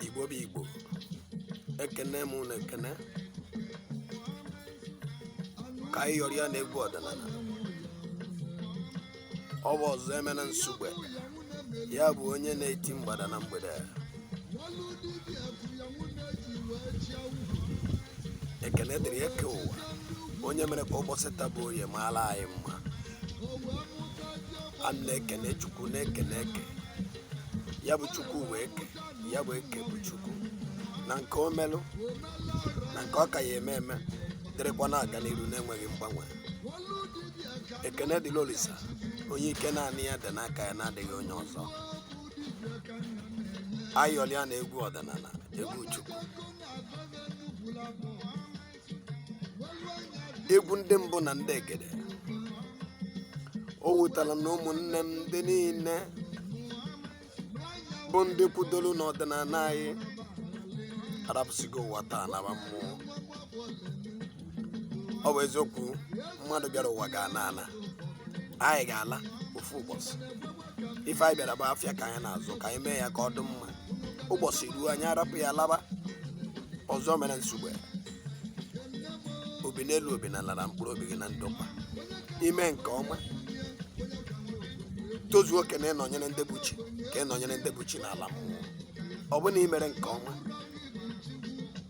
igbo bụ igbo ekene m ụnụ ekene ka anyị yọrịa na egwu ọdịnala ọ bụ ọzọemena nsugbe ya bụ onye na-eti mgbada na mgbede ekene dịrị eke ụwa onye mere ka ụbọsị taa bụ oye maala anyị mma a na-ekene chukwu na-ekene eke ya bụ chukwu bụ eke ya bụ eke bụ chukwu na nke o melụ na nke ọ ka ya eme eme dịrịkwa na-aga n'iru na-enweghị mgbanwe ekene dịlị olisa onye ike naanị ya dị n'aka ya na-adịghị onye ọzọ ayọlịa na egwu ọdịnala egwu chukwu egwu ndị mbụ na ndị egede o wutara na ụmụnne m ndị niile bụ ndị kwudoro n'ọdịnala anyị arapụsigo ụwa taa naba mmụọ ọ bụ eziokwu mmadụ bịara ụwa ga-ana ana anyị ga-ala ofu ụbọsị ife anyị bịara bụ afịa ka anyị na-azụ ka anyị mee ya ka ọ dị mma ụbọsị ruo anyị arapụ ya laba ọzọemena nsugbe obi n'elu obi n'ala nara mkpụrụ obi gị na ndokwa i mee nke ọma tozuo oke na ịnọnyere ndị bụ chi ka ị nọnyere ndị bụ chi n'ala mmụọ ọ bụ na i mere nke ọma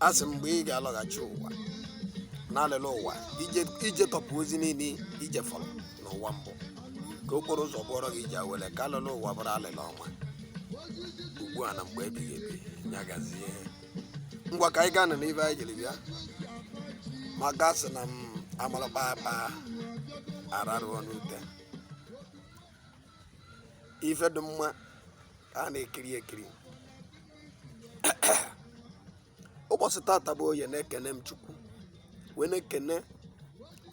asị m mgbe ị ga-alọghachi ụwa n'alịla ụwa i jetọpụ ozi niile i jefọrọ n'ụwa mbụ ka okporo ụzọ bụọrọ gị ije awele ka alịla ụwa bụrụ alịla ọma ugbu a na mgbe ebighị ebi ya gazie ngwa ka anyị gaa nụ n'ife anyị jiri bịa maka a sị na ma a mara akpa akpa a rarụọ n'ute ife dị mma ka a na-ekiri ekiri ụbọsị tata bụ oye na-ekene m chukwu wee na-ekene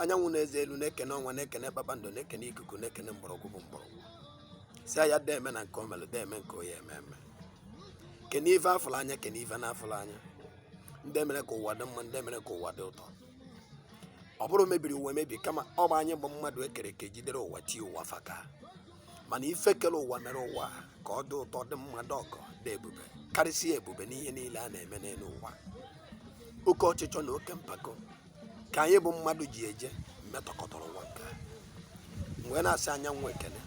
anyanwụ na eze elu na-ekene ọnwa na-ekene kpakpando na-ekene ikuku na-ekene mgbọrọgwụ bụ mgbọrọgwụ sịa ya deme na nke o melụ deme nke ọ ya eme eme kene ife a fụrụ anya kene ife na-afụrọ anya ndị mere ka ụwa dị mma ndị mere ka ụwa dị ụtọ ọ bụrọ mebiri ụwa emebi kama ọ bụ anyị bụ mmadụ e kere eke jidere ụwa tie ụwa faka mana ife kere ụwa mere ụwa ka ọ dị ụtọ dị mma dị ọgọ dị ebube karịsịa ebube n'ihe niile a na-eme n'elu ụwa oke ọchịchọ na oke mpako ka anyị bụ mmadụ ji eje metọkọtara ụwa ka m wee na-asị anyanwụ ekene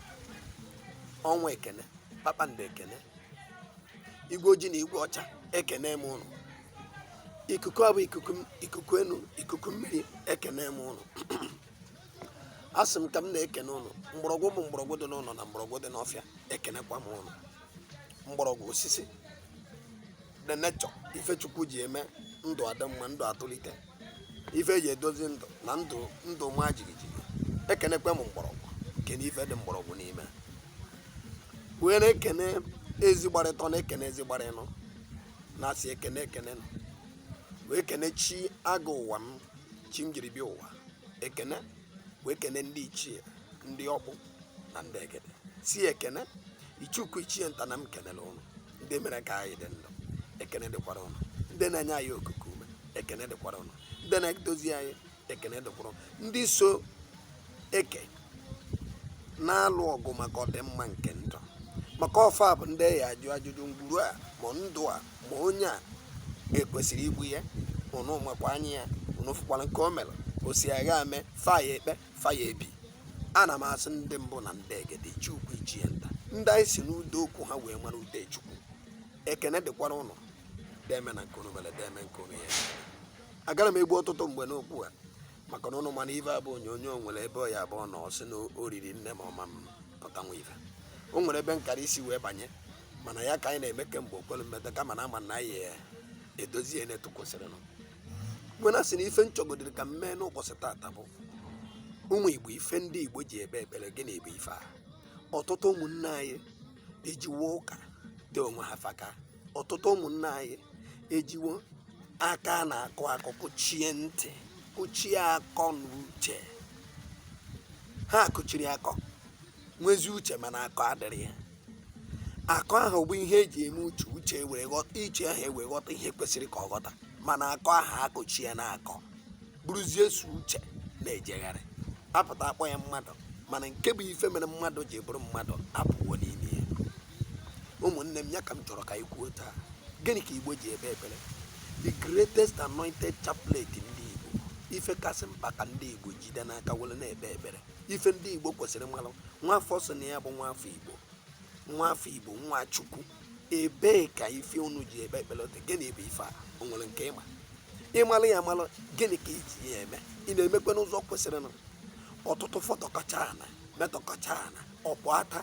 ọnwa ekene kpakpando ekene igwe ojii na igwe ọcha ekene m ụnụ ikuku abụ ikuku enu ikuku mmiri ekene m ụnụ a sị m ka m na-ekene ụnụ mgbọrọgwụ bụ mgbọrọgwụ dị n'ụnọ na mgbọrọgwụ dị n'ọfịa ekenekwa m ụnụ mgbọrọgwụ osisi the nature ife chukwu ji eme ndụ adị mma ndụ atụlite ife eji edozi ndụ na ndụ ma jigijigi ekenekwe m mgbọrọgwụ kene ife dị mgbọrọgwụ n'ime wee na-ekene ezi gbara ịtọ na-ekene ezi gbara ịnọ na-asị ekene ekene nụ wee kene chi agụ ụwa m chi m jiri bịa ụwa ekene wee kene ndị ichie ndị ọkpụ na ndị egede sị ekene ichie ukwu ichie nta na m kenere ụnụ ndị mere ka anyị dị ndụ ekene dịkwara ụnụ ndị na-enye anyị okuku ume ekene dịkwara ụnụ ndị na-edozi anyị ekene dịkwara ụnụ ndị so eke na-alụ ọgụ maka ọdịmma nke ndụ maka ọ fa bụ ndị a ya-ajụ ajụjụ ngwuru a ma ndụ a ma onye a ekwesịrị igbu ya ụnụ makwa anya ya ụnụ fụkwara nke o mere o si agha ame fa ya-ekpe Fa ya-ebi ana m asị ndị mbụ na ndị egede ichie ukwu ichie nta ndị anyị si n'udo okwu ha wee mara ude Chukwu ekene dịkwara ụnụ deme na nke unu mere deme nke unu ya agarọ m egbu ọtụtụ mgbe n'okwu a maka na ụnụ ma na ife a bụ onyonyo nwere ebe ọ ya-abụọ na ọ sị na o riri nne ma ọma m pụta nwa ife o nwere ebe nkara isi wee banye mana ya ka anyị na-eme kemgbe okwelu mmeta kama na ama na anyị edozie n'etu kwesịrịnụ wee na-asị na ife m chọgodiri ka m mee n'ụbọchị tata bụ ụmụ igbo ife ndị igbo ji ekpe ekpere gịnị bụ ife a ọtụtụ ụmụnne anyị ejiwo ụka dị onwe ha faka ọtụtụ ụmụnne anyị ejiwo aka na-akụ akụ kụchie ntị kụchie akọ na uche ha kụchiri akọ nwezi uche mana akọ adịrọ ya akọ ahụ bụ ihe eji eme uche uche were ghọta uche ahụ ewee ghọta ihe kwesịrị ka ọ ghọta mana akọ ahụ akụchie ya n'akọ bụrụzie sọ uche na-ejegharị apụta akpọ ya mmadụ mana nke bụ ife mere mmadụ ji bụrụ mmadụ apụwo n'ime ya ụmụnne m ya ka m chọrọ ka anyị kwuo taa gịnị ka igbo ji ekpe ekpere the greatest anointed chaplet ndị igbo ife kasị mkpa ka ndị igbo jide n'aka were na-ekpe ekpere ife ndị igbo kwesịrị ịmalụ nwafọ sị na ya bụ nwafọ igbo nwafọ igbo nwa chukwu ebee ka ife unu ji ekpe ekpere dị gịnị bụ ife a o nwere nke ịma ịmalụ ya amalụ gịnị ka i ji ya eme ị na-emekwe n'ụzọ kwesịrịnụ ọtụtụ fọtọkọcha ana metọkọcha ana ọ pụata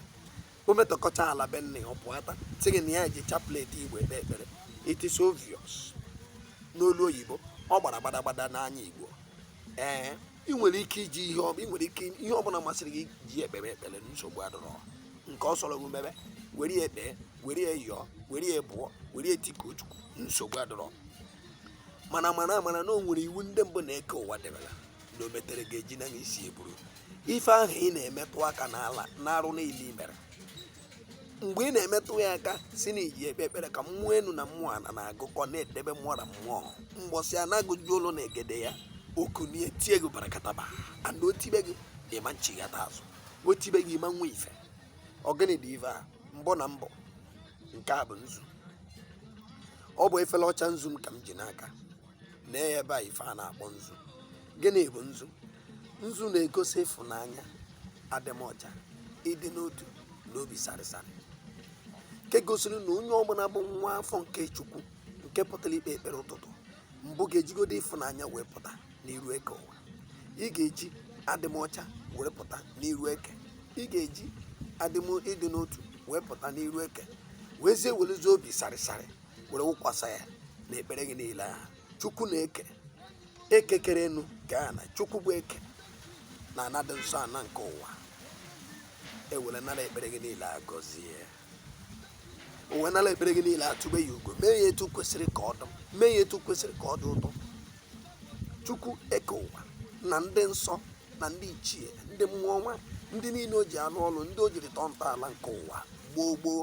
o metọkọcha ala be nne ọ pụata sị gị na ya ji chaplet igbo ekpe ekpere it is obvious n'olu oyibo ọ gbara gbadagbada n'anya igbo ee ị nwere ike iji ihe ọbụla masịrị gị ji ekpebe ekpere nsogbu adọrọ nke ọ sọrọ gị mebe were ya ekpee were ya yọọ were ya bụọ were ya tikuo chukwu nsogbu adọrọ mana mara mara na o nwere iwu ndị mbụ na eke ụwa debere na o metere ga-eji na isi buru ife ahụ ị na-emetụ aka n'ala na arụ niile i mere mgbe ị na-emetụ ya aka sị na i ji ekpe ekpere ka mmụọ enu na mmụọ ana na-agụkọ na-edebe mmụọ na mmụọ mgbọsị a na-agụju ụlọ na egede ya o kunie tie gị barakataba and o tibe gị ị ma nchighata azụ o tibe gị ị ma nwe ife ọ gịnị dị ife a mbụ na mbụ nke a bụ nzu ọ bụ efere ọcha nzu m ka m ji n'aka na ebe a ife a na-akpọ nzu gịnị bụ nzu nzu na-egosi ịfụnanya adịmọcha ịdị n'otu na obi sarịsarị nke gosiri na onye ọbụla bụ nwa afọ nke chukwu nke pụtara ikpe ekpere ụtụtụ mbụ ga-ejigodo ịfụnanya wee pụta n'iru eke ụwa ị ga-eji adịmọcha wee pụta n'iru eke ị ga-eji ịdị n'otu wee pụta n'iru eke wezie werezie obi sarịsarị were wụkwasa ya na ekpere gị niile ahụ chukwu na eke eke kere enu kee ana chukwu bụ eke na ana dị nsọ ana nke ụwa e were nara ekpere gị niile agọzie e wee nara ekpere gị niile atụbe ya ugo mee ya etu kwesịrị ka ọ dị mee ya etu kwesịrị ka ọ dị ụtọ chukwu eke ụwa na ndị nsọ na ndị ichie ndị mmụọ ọma ndị niile o ji arụ ọrụ ndị o jiri tọọ ntọala nke ụwa gboo gboo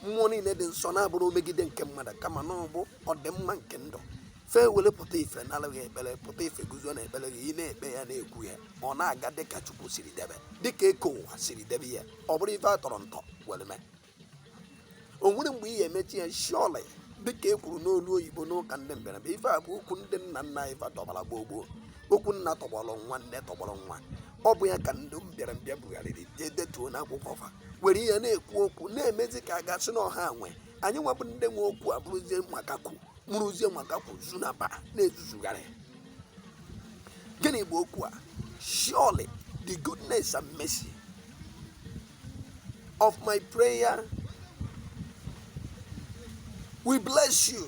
mmụọ niile dị nsọ na-abụrọ omegide nke mmadụ kama na ọ bụ ọdịmma nke ndụ fa ewere pụta ife nara gị ekpere pụta ife guzo na ekpere gị ị na-ekpe ya na-ekwu ya ọ na-aga dịka chukwu siri debe dịka eke ụwa siri debe ya ọ bụrụ ife a tọrọ ntọ were mee o nwere mgbe ị ga-emechi ya surely ya dịka e kwuru n'olu oyibo n'ụka ndị mbịarambịa ife a bụ okwu ndị nna nna anyị fa tọbara gboo gboo okwu nna tọgbọrọ nwa nne tọgbọrọ nwa ọ bụ ya ka ndị mbịarambịa bugharịrị jee detuo n'akwụkwọ fa were ya na-ekwu okwu na-emezi ka a ga-asị na ọ ha nwe anyị nwa bụ ndị nwe okwu a bụrụzie makakwu mụrụzie makakwu zunaba na-ezuzugharị gịnị bụ okwu a surely the goodness and mercy of my prayer will bless you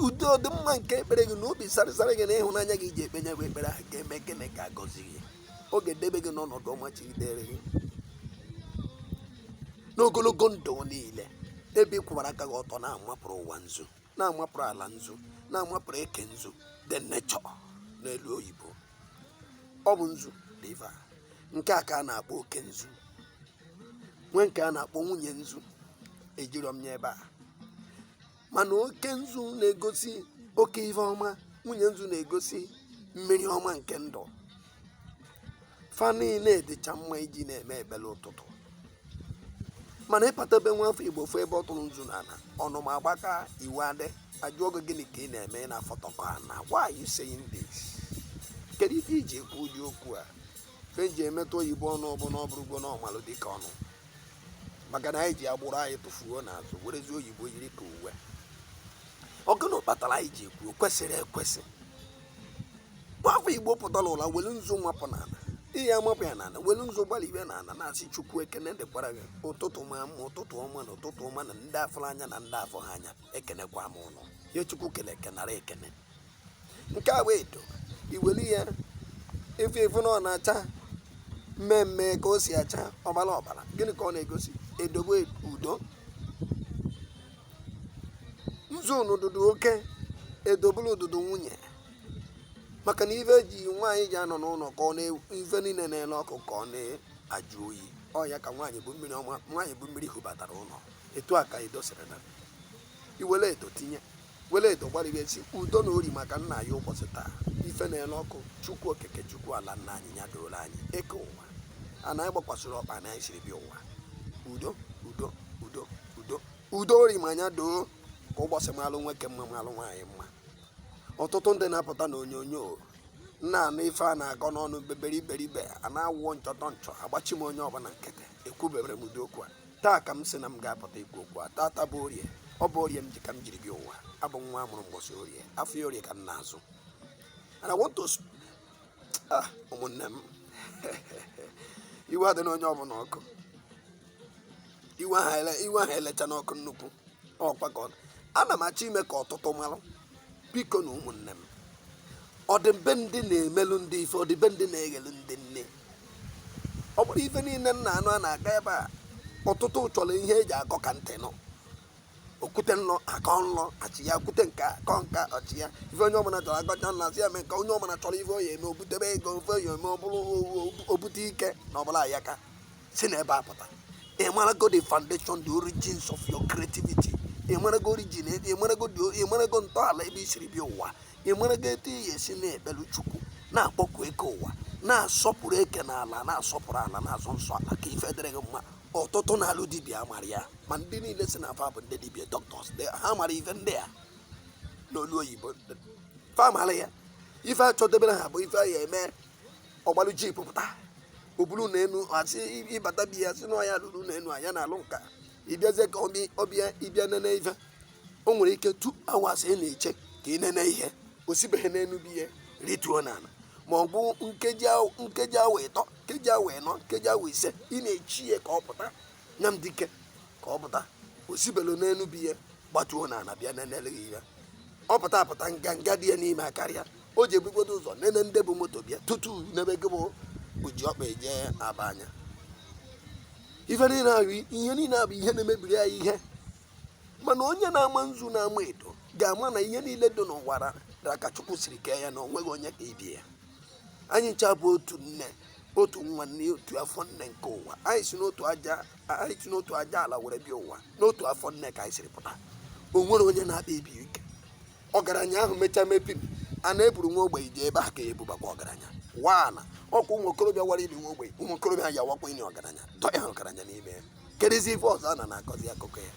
ụdị ọdịmma nke ekpere gị na obi sarịsarị gị na ịhụnanya gị ji ekpe nya bụ ekpere ahụ ga-eme gịnị ga-agọzi gị ọ ga-edebe gị n'ọnọdụ ọma chigidere gị n'ogologo ndụ niile ebe ị kwụbara aka gị ọtọ na-amapụrụ ụwa nzu na-amapụrụ ala nzu na-amapụrụ eke nzu the nature n'olu oyibo ọ bụ nzu riva nke a ka a na-akpọ oke nzu nwee nke a na-akpọ nwunye nzu ejirọ m ya ebe a mana oke nzu na-egosi oke ife ọma nwunye nzu na-egosi mmiri ọma nke ndụ fa niile dịcha mma iji na-eme ekpele ụtụtụ mana ịpatabe nwa afọ igbo fụ ebe ọ tụrụ nzu n'ala ọnụma agbaka iwe adị ajụọ gị gịnị ka ị na-eme ị na-afọtọkọ ana why are you saying this kedu ife i ji ekwu ụdị okwu a ka eji emetụ oyibo ọnụ ọbụla ọ bụrụgo normal dịka ọnụ maka na anyị ji agbụrụ anyị tụfuo n'azụ werezi oyibo yiri ka uwe ọ gụnụ kpatara anyị ji ekwu kwesịrị ekwesị nwafọ igbo pụtara ụla welu nzu mapụ n'ala ị ya-amapụ ya n'ala welu nzu gbara ibe n'ala na-asị chukwu ekene dịkwara gị ụtụtụ maa mma ụtụtụ ọma na ụtụtụ ọma na ndị a fụrụ anya na ndị afụrọ anya ekenekwa m unu ya chukwu kele eke nara ekene nke a wụ edo i welu ya ị fụ ị fụ na ọ na-acha mmee mmee ka o si acha ọbara ọbara gịnị ka ọ na-egosi edo bụ udo nzu n'ụdụdụ oke edo bụlụ ụdụdụ nwunye maka na ife ji nwaanyị ji anọ n'ụlọ ka ọ na ife niile na-ele ọkụ ka ọ na-ajụ oyi ọ ya ka nwaanyị bụ mmiri ọma nwaanyị bụ mmiri hubatara ụlọ etu a ka edo siri na i were edo tinye were edo gbarịrị sị udo na ori maka nna anyị ụbọchị taa ife na-ele ọkụ chukwu okike chukwu ala nna anyị ya doro anyị eke ụwa ana anyị gbakwasịrị ọkpa na anyị siri bịa ụwa udo udo udo udo udo ori ma anya doo ka ụbọchị malụ nwoke mma malụ nwaanyị mma ọtụtụ ndị na-apụta na onyonyo unu na-anụ ife a na-akọ n'ọnụ bebere iberibe a na-awụọ nchọtọ nchọ agbachi m onye ọbụla nkịtị ekwubebere m ụdị okwu a taa ka m sị na m ga-apụta ikwu okwu a tata bụ orie ọ bụ orie m ji ka m jiri bịa ụwa abụ nwa a mụrụ mgbọsị orie afịa orie ka m na-azụ and I want to sp- ah ụmụnne m iwe adịna onye ọbụla ọkụ iwe ahụ ele- iwe ahụ elechana ọkụ nnukwu ọ kwa ka ọ ana m achọ ime ka ọtụtụ marụ biko nu ụmụnne m ọ dịbe ndị na-emelụ ndị ife ọ dịbe ndị na-eghelu ndị nne ọ bụrọ ife niile unu na-anụ a na-akọ ebe a ọtụtụ chọrọ ihe eji akọ ka ntị nụ okwute nlọ akọ nlọ achịa okwute nke a akọ nke a achịa ife onye ọbụla chọrọ akọcha nlọ asị ya mee nke onye ọbụla chọrọ ife ọ ya-eme obutebe ego ife ọ ya-eme obute ike na ọbụla ya ka si na ebe a pụta ị marago the foundation the origins of your creativity ị marago origin ebe ị marago the- ị marago ntọala ebe i siri bịa ụwa ị marago etu ị ga-esi na-ekpelu chukwu na-akpọku eke ụwa na-asọpụrụ eke na ala na-asọpụrụ ala na-asọ nsọ ala ka ife dịrị gị mma ọtụtụ na-alụ dibịa mara ya ma ndị niile sị na fa bụ ndị dibịa doctors they- ha mara ife ndị a n'olu oyibo fa mara ya ife achọdebere ha bụ ife a ya-eme ọ gbalụ jeep pụta o bulu na enu a sị ị bata be ya sị na ọ ya lụrụ na enu anya na-alụ nka ị bịazie ka ọbịa ọbịa ịbịa nene ife o nwere ike two hours ị na-eche ka ị nene ihe o sibeghị n'enu be ya rituo n'ala ma ọ bụ nkeji awa- nkeji awa ịtọ nkeji awa ịnọ nkeji awa ise ị na-eche ya ka ọ pụta nya bụ dike ka ọ pụta o sibelu n'enu be ya gbatuo n'ala bịa nenele gị ya ọ pụta apụta nganga dị ya n'ime akarịa o ji ebugodo ụzọ nene ndị bu moto bịa tutu nebe gị bụ oji ọkpa eje aba anya ife niile ahụ ihe niile a bụ ihe na-emebiri ya ihe mana onye na-ama nzu na-ama edo ga-ama na ihe niile dị n'ụwa ra ka chukwu siri kee ya na o nweghị onye ka ibe ya anyị ncha bụ otu nne otu nwa nne otu afọ nne nke ụwa anyị si n'otu aja anyị si n'otu aja ala were bịa ụwa n'otu afọ nne ka anyị siri pụta o nwere onye na-akpa ibe ike ọgaranya ahụ mechaa mepiri a na-eburu nwa ogbenye je ebe a ka e bubakwa ọgaranya wana ọ kwa ụmụ okorobịa wara ili nwa ogbenye ụmụ okorobịa ya-awakwa ili ọgaranya dọnye ọgaranya n'ime ya kedụzi ife ọzọ a na na-akọzi akụkọ ya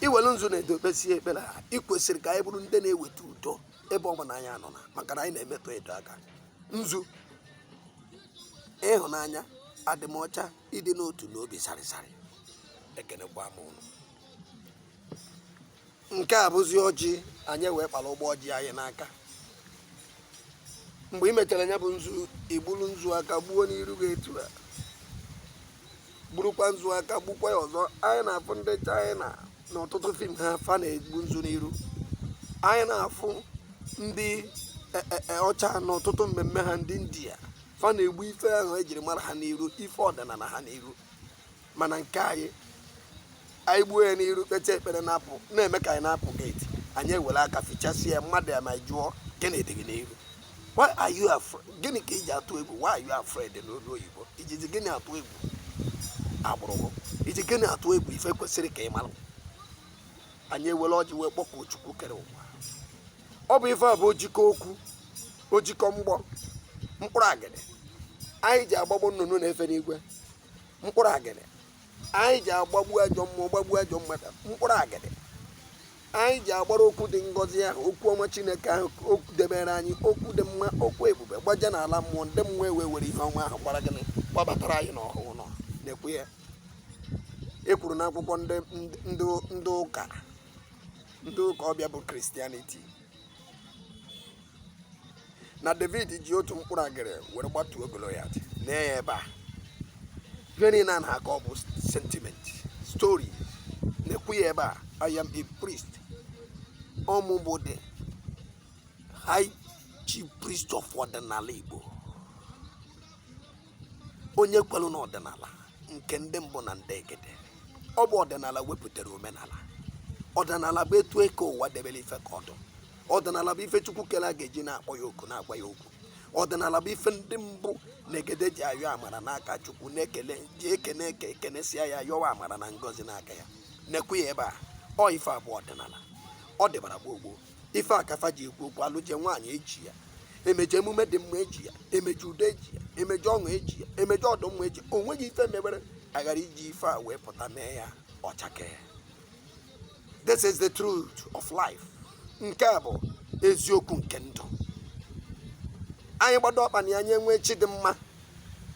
i welu nzu na edo kpesie ekpere a ị kwesịrị ka anyị bụrụ ndị na-eweta udo ebe ọ bụla anyị nọ na maka na anyị na-emetụ edo aka nzu ịhụnanya adịmọcha ịdị n'otu na obi sarịsarị ekenekwa m ụnụ nke a bụzi ọjị anyị wee kpara ụgbọ ọjị anyị n'aka mgbe ị mechara ya bụ nzu i gburu nzu aka gbuo n'iru gị etu a gburukwa nzu aka gbukwa ya ọzọ anyị na-afụ ndị china na ọtụtụ fim ha fa na-egbu nzu n'iru anyị na-afụ ndị e, e, e, ọcha na ọtụtụ mmemme ha ndị india fa na-egbu ife ahụ ejiri mara ha n'iru ife ọdịnala ha n'iru mana nke anyị anyị gbuo ya n'iru kpeta ekpere na-apụ na-eme ka anyị na-apụ geeti anyị ewere aka fichasị ya mmadụ ya ma jụọ gịnị dị gị n'iru why are you afraid gịnị ka i ji atụ egwu why are you afraid n'olu oyibo i jizi gịnị atụ egwu agbụrụ gị i ji gịnị atụ egwu ife kwesịrị ka ị mara anyị ewere ọjị wee kpọkuo chukwu kere ụwa ọ bụ ife a bụ ojikọ okwu ojikọ mgbọ mkpụrụ agịdị anyị ji agbagbu nnụnụ na-efe n'igwe mkpụrụ agịdị anyị ji agbagbu ajọ mmụọ gbagbuo ajọ mmadụ mkpụrụ agịdị anyị ji agbara okwu dị ngọzi ahụ okwu ọma chineke ahụ okwu debere anyị okwu dị mma okwu ebube gbaje n'ala mmụọ ndị mmụọ ewee were ihe ọma ahụ gbara gịnị gbabatara anyị n'ọhụụ ụnụ na-ekwu ya e kwuru n'akwụkwọ ndị ụka ndị ụka ọbịa bụ christianity na david ji otu mkpụrụ agịrị were gbatuo goliath na ya ebe a ihe niile a na-akọ ọ bụ sentiment story na-ekwu ya ebe a i am a priest ọ mụ bụ the high chief priest of ọdịnala igbo onye kwelu na ọdịnala nke ndị mbụ na ndị egede ọ bụ ọdịnala wepụtara omenala ọdịnala bụ etu eke ụwa debere ife ka ọ dụ ọdịnala bụ ife chukwu kere a ga-eji na-akpọ ya oku na-agwa ya okwu ọdịnala bụ ife ndị mbụ na egede ji ayọ amara n'aka chukwu na-ekele ji ekene eke ekenesịa ya yọwa amara na ngọzi n'aka ya na-ekwu ya ebe a ọ ife a bụ ọdịnala ọ dịbara gboo gboo ife a ka fa ji ekwu okwu a lụje nwaanyị eji ya emeje emume dị mma eji ya emeje udo eji ya emeje ọṅụ eji ya emeje ọdụmma eji o nweghị ife mebere aghara iji ife a wee pụta mee ya ọ chakee this is the truth of life nke a bụ eziokwu nke ndụ anyị gbado ọkpa na ya anyị enwe chi dị mma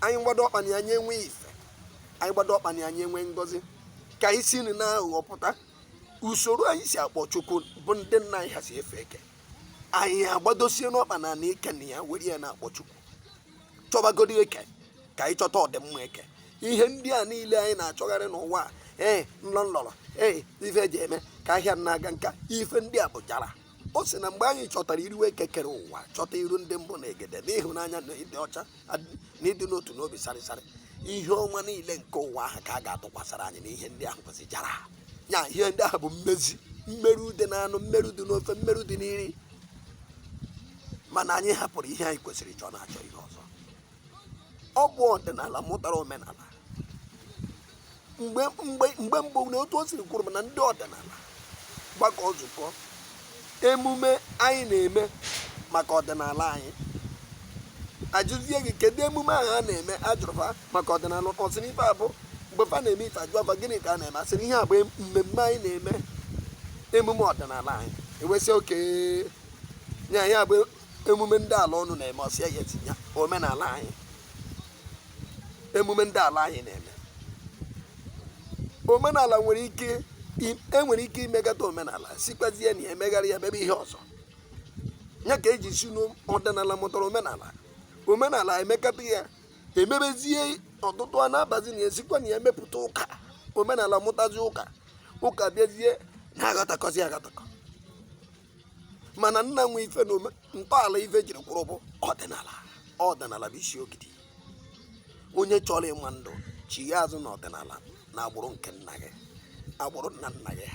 anyị gbado ọkpa na ya anyị enwe ife anyị gbado ọkpa na ya anyị enwe ngọzi ka anyị si na aghụghọ pụta usoro anyị si akpọ chukwu bụ ndị nna anyị ha si efe eke anyị agbadosienụ ọkpa n'ana ike na ya were ya na-akpọ chukwu chọbagodi eke ka anyị chọta ọdịmma eke ihe ndị a niile anyị na-achọgharị n'ụwa a ee nlọ nlọrọ ee ife eji eme ka ahịa na-aga nka ife ndị a bụ jara ọ sị na mgbe anyị chọtara iru eke kere ụwa chọta iru ndị mbụ na egede n'ịhụnanya na ịdị ọcha na ịdị n'otu n'obi sarịsarị ihe ọma niile nke ụwa ahụ ka a ga-atụkwasara anyị na ihe ndị ahụ kwesị jara ya ihe ndị ahụ bụ mmezi mmerụ dị n'anụ mmerụ dị n'ofe mmerụ dị n'iri mana anyị hapụrụ ihe anyị kwesịrị chọọ na-achọ ihe ọzọ ọ bụ ọdịnala mụtara omenala mgbe mgbe mgbe mbụ na otu o siri kwuru m na ndị ọdịnala gbakọ nzukọ emume anyị na-eme maka ọdịnala anyị a jụzie gị kedu emume ahụ a na-eme a jụrụ fa maka ọdịnala ọ sị na ife a bụ mgbe fa na-eme ife a jụọ fa gịnị ka a na-eme a sị na ihe a bụ mmemme anyị na-eme emume ọdịnala anyị e wee sị okay nya ya bụ emume ndị ala unu na-eme ọ sị ya etinye omenala anyị emume ndị ala anyị na-eme omenala nwere ike e nwere ike imekata omenala sikwazie na ya megharịa ya mebe ihe ọzọ ya ka eji sị na ọdịnala mụtara omenala omenala emekata ya emebezie otu otu a na-abazi na ya e sikwa na ya mepụta ụka omenala mụtazi ụka ụka bịazie na-agatakọzi agatakọ mana nna nwe ife na ntọala ife jiri kwụrụ bụ ọdịnala ọdịnala bụ isi ogidi onye chọrọ ịma ndụ chigha azụ na ọdịnala na agbụrụ nke nna gị agbụrụ nna nna gị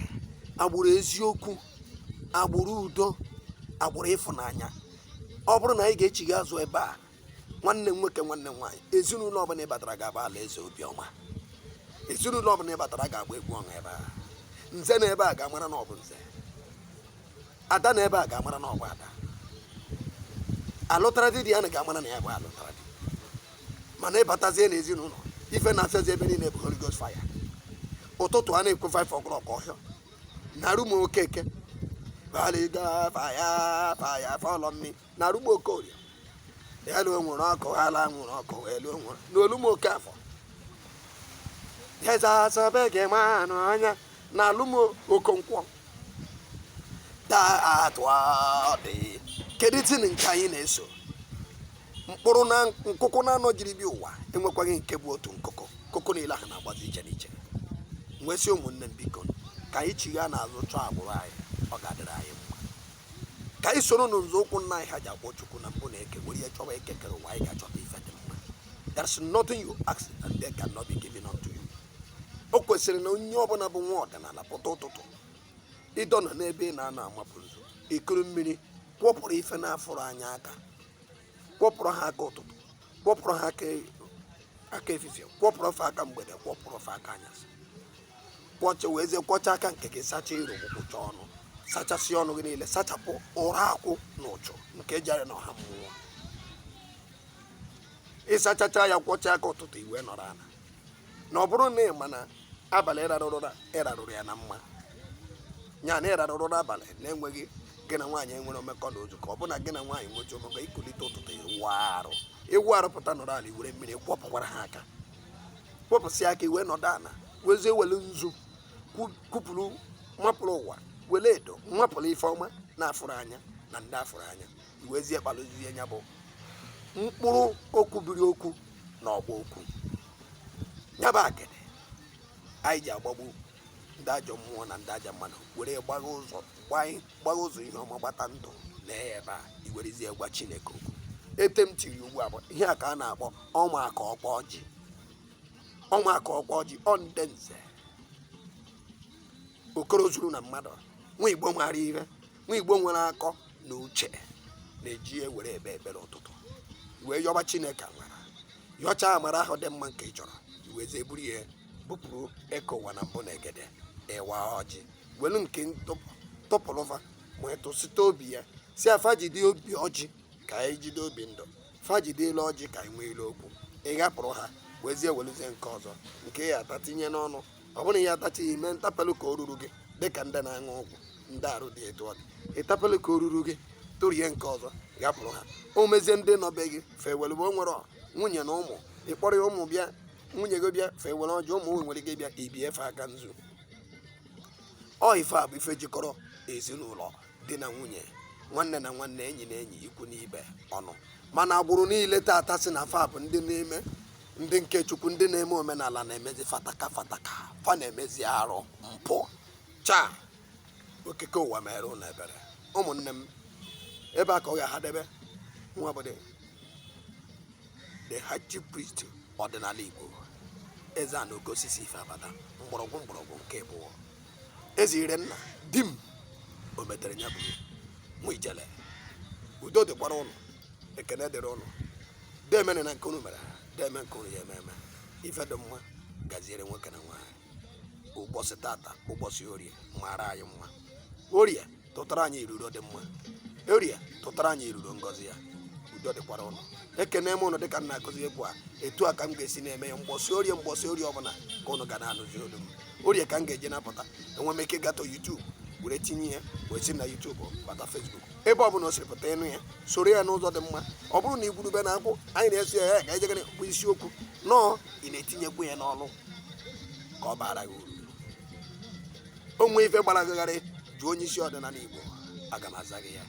agbụrụ eziokwu agbụrụ udo agbụrụ ịfụnanya ọ bụrụ na anyị ga-echigha azụ ebe a nwanne m nwoke nwanne m nwaanyị ezinụlọ ọbụla ị batara ga-abụ alaeze obiọma ezinụlọ ọbụla ị batara ga-agba egwu ọṅụ ebe a nze nọ ebe a ga-amara na ọ bụ nze ada nọ ebe a ga-amara na ọ bụ ada alụtara di ya na ga-amara na ya bụ alụtara di mana ị batazie na ezinụlọ ife na-afịazi ebe niile bụ Holy Ghost fire ụtụtụ a na-ekwu 5 o'clock ọ hịa na room okeke baliga fire fire follow me na room okorie elu nwere ọkụ ala nwere ọkụ elu nwere na room okafọ eze asọbe gị ma anụ anya na room okonkwo taa atụ dị kedụzi nke anyị na-eso mkpụrụ na nkuku naanọ jiri bi ụwa enwekwaghị nke bụ otu nkuku nkuku niile ahụ na-agbazi iche n'iche nwesị ụmụnne m biko ka anyị chigha n'azụ chọọ agbụrụ anyị ọ ga-adịrị anyị ka anyị soro na nzọụkwụ nna anyị ha ji akpọ chukwu na mbụ na eke were ihe chọwa eke kere ụwa anyị ga-achọta ife dị mma there's nothing you ask and they cannot be given unto you o kwesịrị na onye ọbụla bụ nwa ọdịnala pụta ụtụtụ ịdọ nọ n'ebe ị na-anọ amapụ nzu i kuru mmiri kwọpụrụ ife na-afụrụ anya aka kwọpụrụ ha aka ụtụtụ kwọpụrụ ha aka efifie kwọpụrụ fa aka mgbede kwọpụrụ fa aka anyasị kwọcha wezie kwọcha aka nke gị sacha iru kwụcha ọnụ sachasị ọnụ gị niile sachapụ ụra akwụ na uchu nke jere na ọha mmụọ ị sachacha ya kwọcha aka ụtụtụ i wee nọrọ ala na ọ bụrụ na ị ma na abalị ị rarụrụ ụra ị rarụrụ ya na mma ya na ị rarụrụ ụra abalị na-enweghị gị na nwaanyị enwere mmekọ na ozu ka ọ bụ na gị na nwaanyị nwechi mmekọ i kulite ụtụtụ ị wụọ arụ ị wụọ arụ pụta nọrọ ala i were mmiri kwọpụkwara ha aka kwọpụsị aka i wee nọdụ ana wezie wele nzu kwupụrụ mapụrụ ụwa wele edo mapụrụ ife ọma na-afụrụ anya na ndị afụrụ anya i wezie kpalụzie ya bụ mkpụrụ okwu biri okwu na ọgba okwu ya bụ akịdị anyị ji agbagbu ndị ajọ mmụọ na ndị ajọ mmadụ were gbagha ụzọ gbanye gbagha ụzọ ihe ọma gbata ndụ na ebe a i werezie gwa chineke okwu ete m tiri ugbu a bụ ihe a ka a na-akpọ ọnwa aka ọkwa ọjị ọnwa aka ọkwa ọjị ọ ndị nze okoro zuru na mmadụ nwa igbo mara ihe nwa igbo nwere akọ na uche na-eji ya ewere ekpe ekpere ụtụtụ wee yọba chineke amara yọchaa amara ahụ dị mma nke ị chọrọ i wezie buru ya bupụrụ eke ụwa na mbụ na egede ị waa ọjị welu nke tọpụrụva ma etụsịta obi ya sị fa jide obi ọjị ka anyị jide obi ndụ fa jide elu ọjị ka anyị nwee ilu okwu ị ghapụrụ ha wezie weluzie nke ọzọ nke ị ya-ata tinye n'ọnụ ọ bụrụ na ya atachi ya ime ntapelụ ka o ruru gị dịka ndị na-aṅụ ọgwụ ndị arụ dị etu ọ dị ị tapelụ ka o ruru gị tụrie nke ọzọ ghapụrụ ha o mezie ndị nọ be gị fa ewelu o nwere nwunye na ụmụ ịkpọrọ ya ụmụ bịa nwunye gị bịa fa ewere ọjị ụmụnne gị bịa i bie fa aka nzu ọ ife a bụ ife jikọrọ ezinụlọ di na nwunye nwanne na nwanne enyi na enyi ikwu n'ibe ọnụ mana agbụrụ niile tata sị na fa bụ ndị na-eme ndị nke chukwu ndị na-eme omenala na-emezi fataka fataka fa na-emezi arụ mpụ chi okike ụwa meere unu ebere ụmụnne m ebe a ka ọ ga-ahadebe nwa bụdị the high chief priest ọdịnala Igbo Ezeana oke osisi ife abada mgbọrọgwụ mgbọrọgwụ nke abụọ eze ire nna di m o metere ya buru mụ ijele udo dịkwara ụnụ ekene dịrị ụnụ demene na nke unu mere deme nke unu ya-eme eme ife dị mma gaziere nwoke na nwaanyị ụbọsị tata ụbọsị orie mara anyị mma orie tụtara anyị iruro dị mma orie tụtara anyị iruro ngọzi ya udo dịkwara ụnụ ekene m ụnụ dịka m na-akụzi ugbu a etu a ka m ga-esi na-eme ya mgbọsị orie mgbọsị orie ọbụla ka ụnụ ga na-anụzi olu m orie ka m ga-eji na-apụta enwe m ike gatọ YouTube were tinye ya wee si na YouTube bata Facebook ebe ọ bụla o siri pụta ị nụ ya soro ya n'ụzọ dị mma ọ bụrụ na igwurube na akwụ anyị na-eso ya ya ka anyị jegara bụ isiokwu nọọ ị na-etinyekwu ya n'ọlụ ka ọ baara gị uru o nwee ife gbara gị gharị jụọ onye isi ọdịnala igbo aga m aza gị ya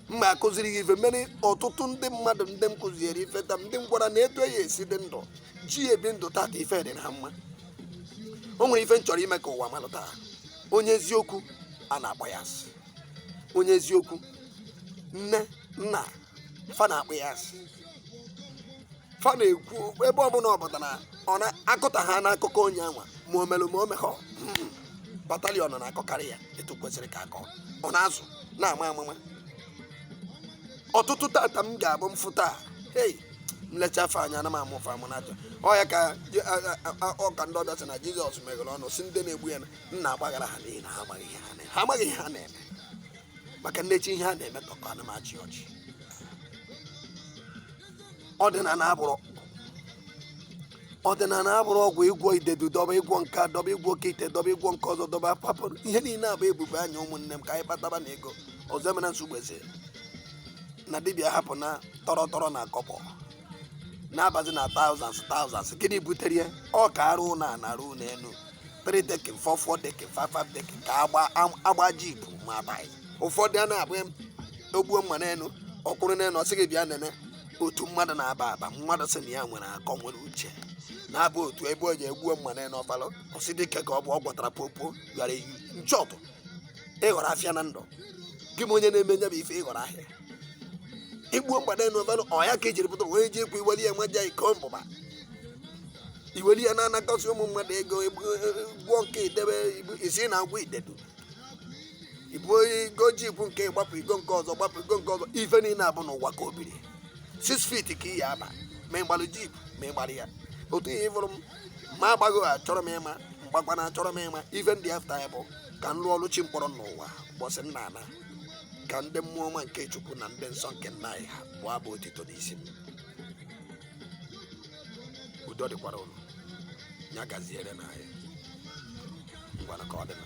mma akụziri gị ife mere ọtụtụ ndị mmadụ ndị m kụziere ife taa ndị m gwara na etu e ya-esi dị ndụ ji ebi ndụ tata ife adịrị ha mma o nwere ife m chọrọ ime ka ụwa malụta onye eziokwu a na-akpọ ya asị onye eziokwu nne nna fa na-akpọ ya asị fa na-ekwu ebe ọbụla ọ pụtara ọ na-akụta ha n'akụkọ onye anwa ma o mere ma o mehọ mm, batalion na-akọkarị ya etu kwesịrị ka akọ ọ na-azụ na-ama amụma ọtụtụ tata m ga-abụ m fụta a, hei m lechaa fa anya ana m amụ fa amụ n'aja ọ ya ka Je- a- a- a- a- ọka ndị ọbịa sị na jizọs meghere ọnụ sị ndị na-egbu ya na nna gbaghara ha n'ihi na ha amaghị ihe ha na- ha amaghị ihe ha na-eme maka m nechaa ihe ha na-eme tọkọ ana m achị ọchị ọdịnala abụrụ ọdịnala abụrụ ọgwụ ị gwọọ idedu dọba ị gwọọ nke a, dọba ị gwọọ oke ite dọba ị gwọọ nke ọzọ dọba hapụ ihe niile a bụ ebube anya ụmụnne m ka anyị kpataba na ego ọzọ emena nsogbu eze na dibịa hapụ na tọrọ tọrọ na kọpọ na-abazi na thousands thousands gịnị butere ya ọ ka arụ na anarụ n'elu three decking four four decking five five decking ka agba am- agba jeep ma agbaghị ụfọdụ a na-abụ em, ogbuo mma n'elu ọ kwụrụ n'elu ọ sị gị bịa nene otu mmadụ na-aba aba mmadụ sị na ya nwere akọ nwere uche na-abụ otu ebe o ji egbuo mma n'elu ọfalụ ọsị dịka ka ọ bụ ọ gwọtara popo bịara eyi nchọpụ ịghọrọ afịa na ndụ gị ma onye na-eme nya bụ ife ịghọrọ ahịa igbuo mgbada n'ovelụ ọ ya ka ejiri pụta wee ji ekwu iweli ya nwa ja iko mbụba iwere ya na-anakọsị ụmụ mmadụ ego gwụọ nke idebe isi na agwọ idedu ibu igo jeep nke gbapụ igo nke ọzọ gbapụ igo nke ọzọ ife niile abụ n'ụwa ka o biri six feet ka ị ya-aba ma ịgbalụ jeep ma ịgbarọ ya otu ihe ịfụrụ m ma agbaghị achọrọ m ịma m gbakwana achọrọ m ịma ife m dị after ya bụ ka m lụọ ọrụ chi m kpọrọ n'ụwa ụbọchị m na-ana ka ndị mmụọ ọma nke chukwu na ndị nsọ nke nna anyị ha bụọ abụ otito n'isi m udo dịkwara ụnụ ya gaziere na anyị ngwana ka ọ dịla